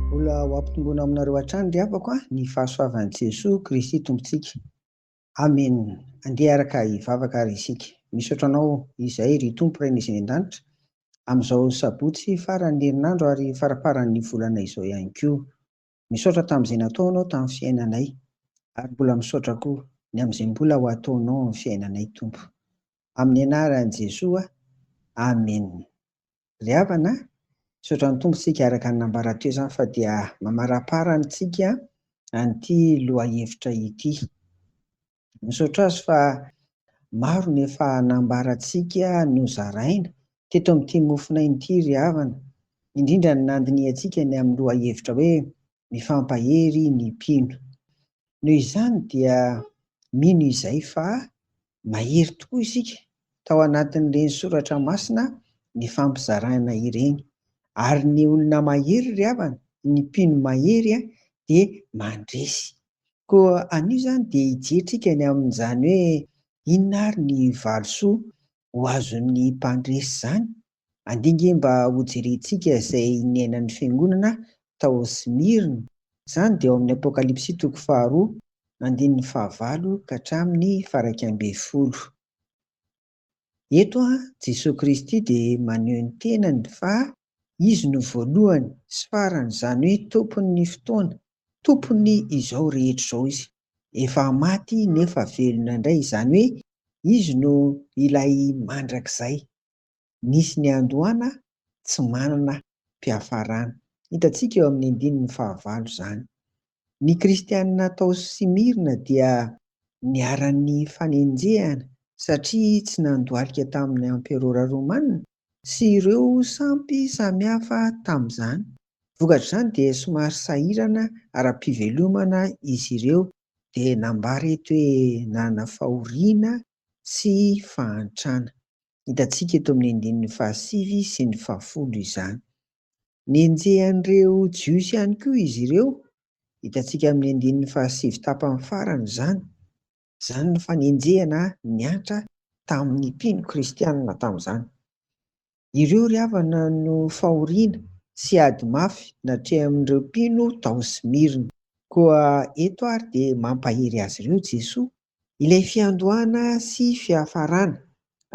Mbola ho ampitomboina aminareo hatrany ry havako a, ny fahasoavan'i Jesoa Kristy Tompontsika. Amen! Andeha araka hivavaka ary isika. Misaotra Anao izay ry Tompo Rainay izay any an-danitra, amin'izao sabotsy faran'ny herinandro ary faraparan'ny volana izao ihany koa. Misaotra tamin'izay nataonao tamin'ny fiainanay ary mbola misaotra koa ny amin'izay mbola ho ataonao amin'ny fiainanay Tompo. Amin'ny anaran'i Jesoa, Amen. Ry havana a! Misaotra ny Tompo isika araka ny nambara teo izany fa dia mamarapara amintsika an'ity lohahevitra ity. Misaotra azy fa maro ny efa nambarantsika nozaraina teto amin'ity mofonaina ity ry havana, indrindra ny nandinihantsika ny amin'ny lohahevitra hoe Mifampahery ny mpino. Noho izany dia mino izay fa mahery tokoa isika tao anatin'ireny soratra masina nifampizaraina ireny. Ary ny olona mahery ry havana, ny mpino mahery dia mandresy Koa anio izany dia hijetrika ny amin'izany hoe inona ary ny valisoa ho azon'ny mpandresy izany. Andinga e mba hojerentsika izay niainan'ny fiangonana tao Smyrne. Izany dia ao amin'ny Apokalypsy toko faharoa, andininy fahavalo ka hatramin'ny fara ika ambin'ny folo. Eto Jesoa Kristy dia maneho ny tenany fa Izy no voalohany sy farany, izany hoe Tompon'ny fotoana, Tompon'ny izao rehetra izao Izy. Efa maty nefa velona indray, izany hoe Izy no ilay mandrakizay, nisy niandohana, tsy manana mpiafarana. Hitantsika eo amin'ny andininy fahavalo izany. Ny Kristianina tao Smyrna dia niharan'ny fanenjehana satria tsy nandohalika tamin'ny Amperôra Romana sy ireo sampy samihafa tamin'izany. Vokatr'izany dia somary sahirana ara-pivelomana izy ireo, dia nambara eto hoe nanana fahoriana sy fahantrana. Hitantsika eto amin'ny andininy fahasivy sy ny fahafolo izany. Nenjehan'ireo Jiosy ihany koa izy ireo, hitantsika amin'ny andininy fahasivy tapany farany izany. Izany no fanenjehana niantra tamin'ny mpino kristianina tamin'izany. Ireo ry havana no fahoriana sy ady mafy natrehin'ireo mpino tao Smyrne. Koa eto àry dia mampahery azy ireo Jesoa Ilay fiandohana sy fiafarana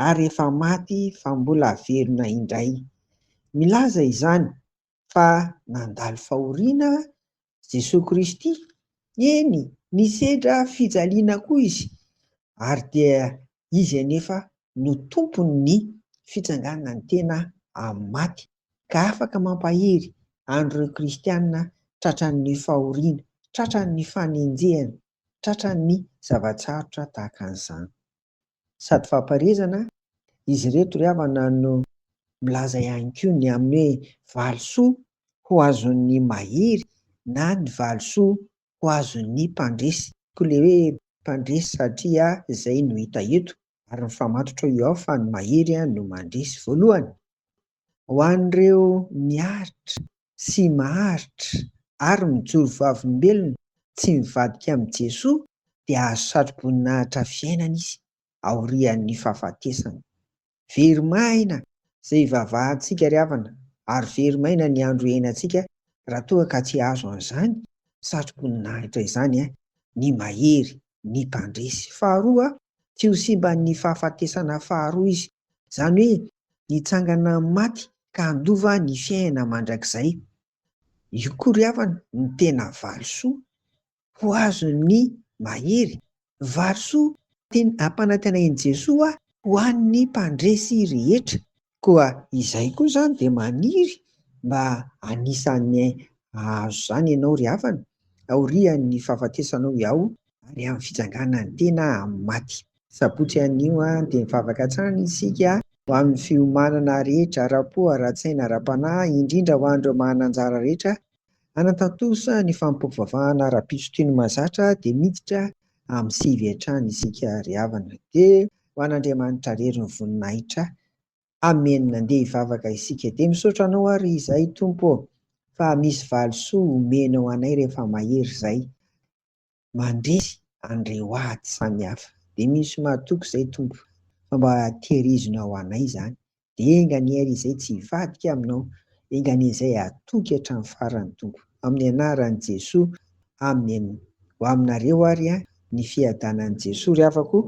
ary efa maty fa mbola velona indray. Milaza izany fa nandalo fahoriana Jesoa Kristy, eny nisedra fijaliana koa Izy ary dia Izy anefa no Tompon'ny fitsanganan'ny tena amin'ny maty ka afaka mampahery an'ireo kristiana tratran'ny fahoriana, tratran'ny fanenjehana. Tratra ny zava-tsarotra tahaka an'izany. Sady fampaherezana, izy ireto ry havana no milaza ihany koa ny amin'ny hoe valisoa ho azon'ny mahery na ny valisoa ho azon'ny mpandresy. Koa ilay hoe mpandresy satria izay no hita eto ary mifamatotra eo fa ny mahery no mandresy voalohany. Ho an'ireo miaritra sy maharitra ary mijoro vavolombelona tsy mivadika amin'i Jesoa dia azo satro-boninahitra fiainana Izy aorian'ny fahafatesany. Very maina izay ivavahantsika ry havana ary very maina ny andro iainantsika raha toa ka tsy azo an'izany satro-boninahitra izany ny Mahery, ny Mpandresy. Faharoa, tsy ho simban'ny fahafatesana faharoa Izy, izany hoe nitsangana amin'ny maty ka handova ny fiainana mandrakizay. Io koa ry havana no tena valisoa ho azon'ny mahery. Valisoa tiany ampanantena an'i Jesoa ho an'ny mpandresy rehetra. Koa izay koa izany dia maniry mba anisan'ny hahazo izany ianao ry havana aorian'ny fahafatesanao ao ary amin'ny fitsangana ny tena amin'ny maty. Sabotsy anio dia mivavaka hatrany isika ho amin'ny fiomanana rehetra ara-po, ara-tsaina, ara-panahy, indrindra ho an'ireo manana anjara rehetra hanatantosa ny fanompoam-pivavahana ara-pitsotry ny mahazatra dia miditra amin'ny sivy hatrany isika ry havana dia ho an'Andriamanitra rery ny voninahitra Amen andeha hivavaka isika dia misaotra anao ary izay Tompo ô fa misy valisoa omenao anay rehefa mahery izay mandresy an'ireo ady samihafa. Dia misy mahatoky izay Tompo fa mba tehirizina ho anay izany. Dia enga anie ary izay tsy hivadika aminao, enga anie izay hatoky hatramin'ny farany Tompo. Amin'ny anaran'i Jesoa, Amen. Ho aminareo ary ny fiadanan'i Jesoa ry havako o!